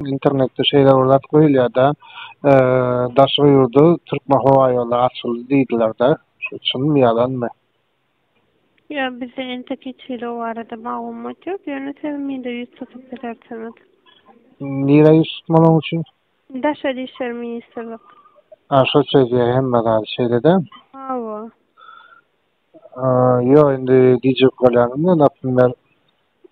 Internetde şeýle bir zat goýulýar-da, daşary ýurda Türkmenhowaýollary açyldy diýdiler-de. Şu çynmy, ýalanmy? Ýok, bizde entek hiç hili o barada maglumat ýok. Ýöne siz mide ýüz tutup bilersiňiz. Nirä ýüz tutmaly oň üçin? Daşary işler ministrlik. A, şo çözýär hemme zady, şeýle-dä? Hawa. Ýok, indi gijigip galýaryn-da, naprimýer.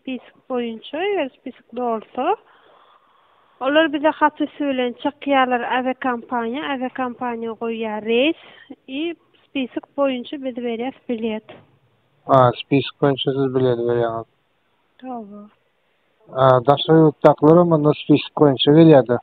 Spisik boýunça, eger spisik dolsa, olar bize hat üsti bilen çykýarlar, awiakompaniýa, awiakompaniýa goýýar reýs i spisik boýunça biz berýäs bilet. A, spisik boýunça siz bileti berýäňiz. Hawa. A, daşary ýurtdakylar hem onda spisik boýunça gelýärda.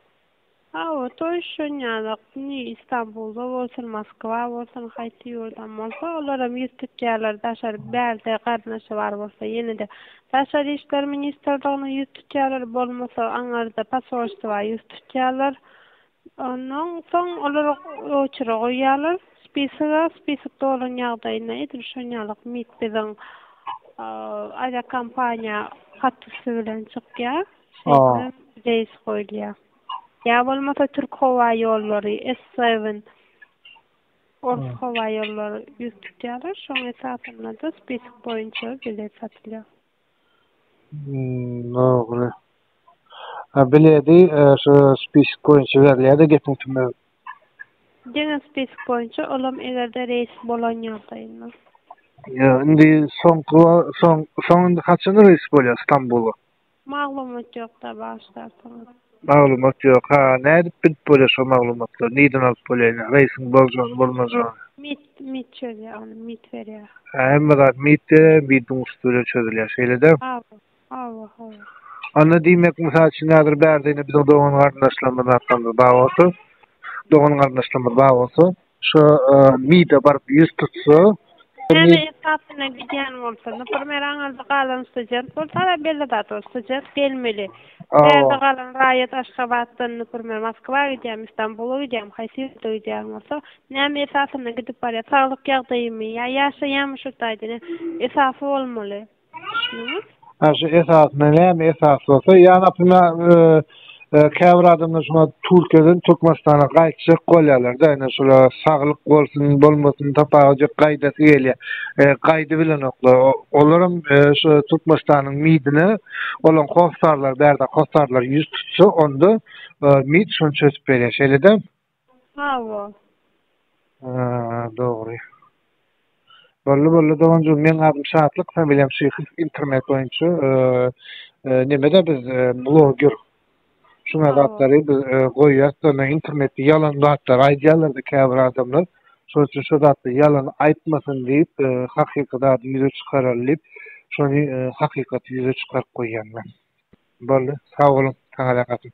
Hawa, toý şonýanok. Nji Istanbulda bolsun, Moskwa bolsun, haýsy ýurdam bolsa, olaram ýyrtyk ýerler daşary bärde garyndaşy bar bolsa, ýene-de Daşary işler ministrliginiň ýüz tutýarlar, bolmasa aňarda posolstwa ýüz tutýarlar. Ondan soň olar oçere goýýarlar spisoga, spisok dolan ýagdaýynda edil şonýalak mit biziň awiakompaniýa hat üsti bilen çykýar. Şeýle reýs goýulýar. Ýa bolmasa Türk howa ýollary, S-Seven, ors howa ýollary ýüz tutýarlar. Şoň esasynda-da spisok boýunça bilet satylýar. Dogry. A bileti e, şu spisok boýunça berilýär-de gepiň tümegi. Diňe spisok boýunça, olam eger-de reýs bolan ýagdaýynda. Ýa, indi soňky wa- soň soň indi haçan reýs bolýar Stambula? Maglumat ýokda bagyşlarsyňyz. Maglumat ýok ha nädip bilip bolýa şo maglumatlary nirden alyp bolýa ine reýsing boljagyny bolmajagyny. Mit mit çözýä ony mit berýä. Hä hemme zat mit berýä midiň ursy bilen çözülýä şeýlede. Hawa hawa hawa. Onda diýmek mysal üçin häzir bärde ine biziň dogan garyndaşlarymyz zatlarymyz bar bolsa dogan garyndaşlarymyz bar bolsa Şu MID-e baryp ýüz tutsa. Näme esasynda gidýän bolsa, naprimer aňyrda galan student bolsa da belli zat ol student gelmeli. Bärde galan raýat Aşgabatdan naprimer Moskwa gidýärmi, Stambula gidýärmi, haýsy ýurda gidýän bolsa, näme esasynda gidip barýar, saglyk ýagdaýymy ýa ýaşaýanmy şu taýdan esasy bolmaly. düşünüňiz? Ha şu esasynda näme esas bolsa, ýa naprimýar, e, käbir adamlar şuňa Türkiýeden Türkmenistana gaýtjak bolýarlar-da, ýöne şola saglyk bolsun, bolmasyn tapawudyk gaýdasy gelýär. E, gaýdy bilenoklar. Olaram e, şu Türkmenistanyň midine olaň hossarlar, bärde hossarlar ýüz tutsa, onda e, mid şonça ösüp berýär. Şeýle-de? Hawa. Haa dogry. Boldy boldy doganjygym meň adym Şatlyk familiýam Şyhyw internet boýunça nemede biz bloger şuňa zatlary biz goýýas da men internetde ýalan zatlar aýdýarlarda käbir adamlar şol üçin şu zatda ýalan aýtmasyn diýip hakyky zady ýüze çykaralım diýip şony hakykaty ýüze çykaryp goýýan men. Boldy sag boluň saňa zähmetim.